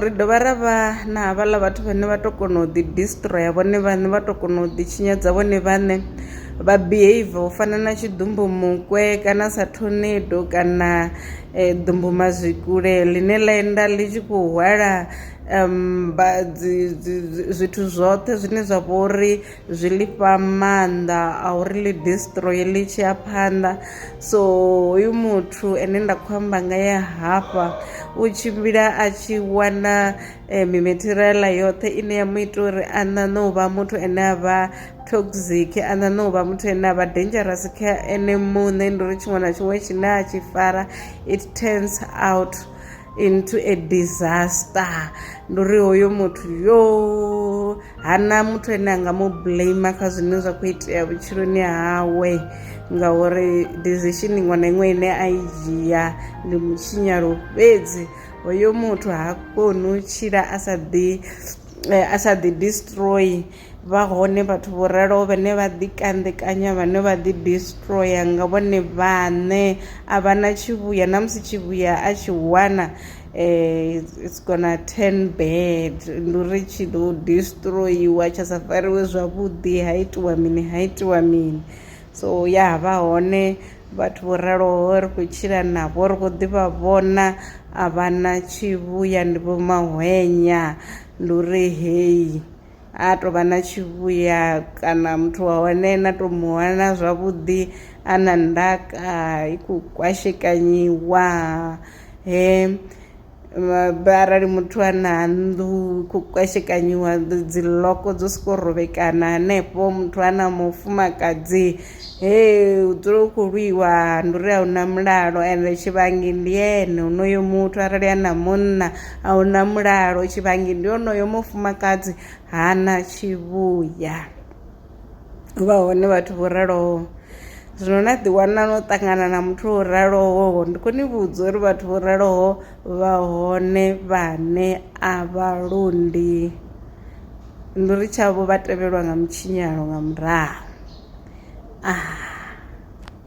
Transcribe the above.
Ri dovha ra vha na havhaḽa vhathu vhane vha to kona u ḓi destroyer vhone vhaṋe vha to kona u ḓi tshinyadza vhone vhaṋe vha behave u fana na tshiḓumbu mukwe kana sa thonido kana ḓumbu mazwikule ḽine ḽa enda ḽi tshi khou hwala vha dzi zwithu zwoṱhe zwine zwa vhori. zwi lifha maanḓa a uri ḽi destroy ḽi tshi ya phanḓa so hoyu muthu ene nda khou amba nga ye hafha u tshimbila a tshi wana eh, mimateriala yoṱhe ine ya mu ita uri a ṋaṋe u vha muthu ane a vha toxic a ṋaṋe u vha muthu ane a vha dangerous kha ene muṋe ndi uri tshiṅwe na tshiṅwe tshine a tshi fara it turns out into a disaster ndi uri hoyo muthu yo hana muthu ane a nga mu blame kha zwine zwa khou itea vhutshiloni hawe ngauri decision iṅwe na iṅwe ine a i dzhia ndi mutshinyalo fhedzi hoyo muthu ha koni u tshila a sa ḓi eh, a sa ḓi destroy Vha hone vhathu vho raloho vhane vha ḓikanḓekanya, vhane vha ḓidistroya nga vhone vhaṋe, a vha na tshivhuya na musi tshivhuya a tshi wana um it's gonna turn bad ndi uri tshi ḓo distroyiwa tsha sa fariwe zwavhuḓi ha itiwa mini ha itiwa mini so ya ha vha hone vhathu vho raloho ri khou tshila navho ri khou ḓivha vhona a vha na tshivhuya ndi vho mahwenya ndi uri heyi. a tou vha na tshivhuya kana muthu wa hone na tou mu wana zwavhuḓi a na ndaka i khou kwashekanyiwa he arali muthu a na nnḓu i khou kwashekanyiwa dzi loko dzo sokou rovhekana hanefho muthu a na mufumakadzi hee hu dzule hu khou lwiwa ndi uri a hu na mulalo ende tshivhangi ndi ene honoyo muthu arali a na munna a hu na mulalo tshivhangi ndi onoyo mufumakadzi hana tshivhuya hu vha hone vhathu vho raloho zwino na ḓiwana no ṱangana na muthu wo raloho ndi khou ni vhudza uri vhathu vho raloho vha hone vhane a vha londi. Nduri tshavho vha tevhelwa nga mutshinyalo nga murahu. Ah.